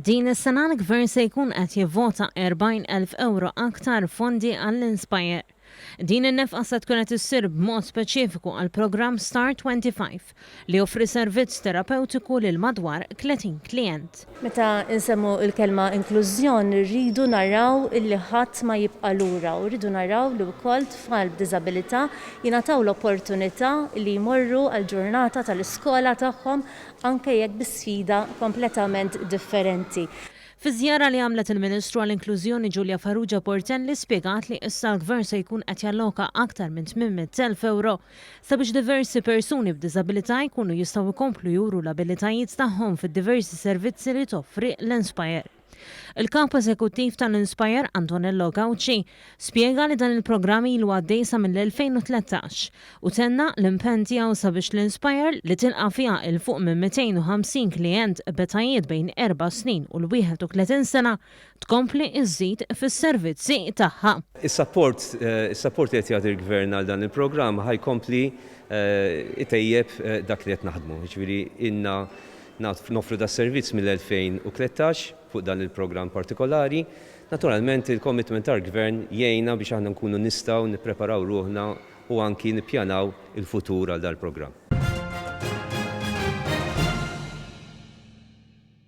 Din is-sena l-Gvern se jkun qed jivvota 40 elf ewro aktar fondi għall-Inspire. Din in-nefqa se tkun qed issir b'mod speċifiku għall-programm Star 25 li joffri servizz terapewtiku lil madwar 30 klijent. Meta nsemmu l-kelma inklużjon irridu naraw illi ħadd ma jibqa' lura u rridu naraw li wkoll tfal b'diżabilità jingħataw l-opportunità li jmorru għall-ġurnata tal-iskola tagħhom anke jekk bi sfida kompletament differenti. Fiż-żjara li għamlet il-Ministru għall-Inklużjoni Julia Farrugia Portelli spjegat li issa l-Gvern se jkun qed jalloka aktar minn 800 elf ewro Sabiex diversi persuni b'diżabilità jkunu jistgħu jkomplu juru l-abilitajiet tagħhom fid-diversi servizzi li toffri l-Inspire. Il-Kap Eżekuttiv tal-Inspire, Antonello Gauci, spjega li dan il-programm ilu għaddej sa mill-2013 u tenna l-impenn tiegħu sabiex l-Inspire, li tilqa' fiha 'il fuq minn 250 klijent b'etajiet bejn erba' snin u l-31 sena, tkompli żżid fis-servizzi tagħha. Is-sapport is-sapport li qed jagħti l-Gvern għal dan il-programm ħa jkompli jtejjeb dak li qed naħdmu. Jiġifieri ilna nagħtu noffru das-servizz mill-2013 fuq dan il-programm partikolari. Naturalment il-commitment tal-Gvern jgħinna biex aħna nkunu nistgħu nippreparaw ruħna u anki nippjanaw il-futur għal dal-programm.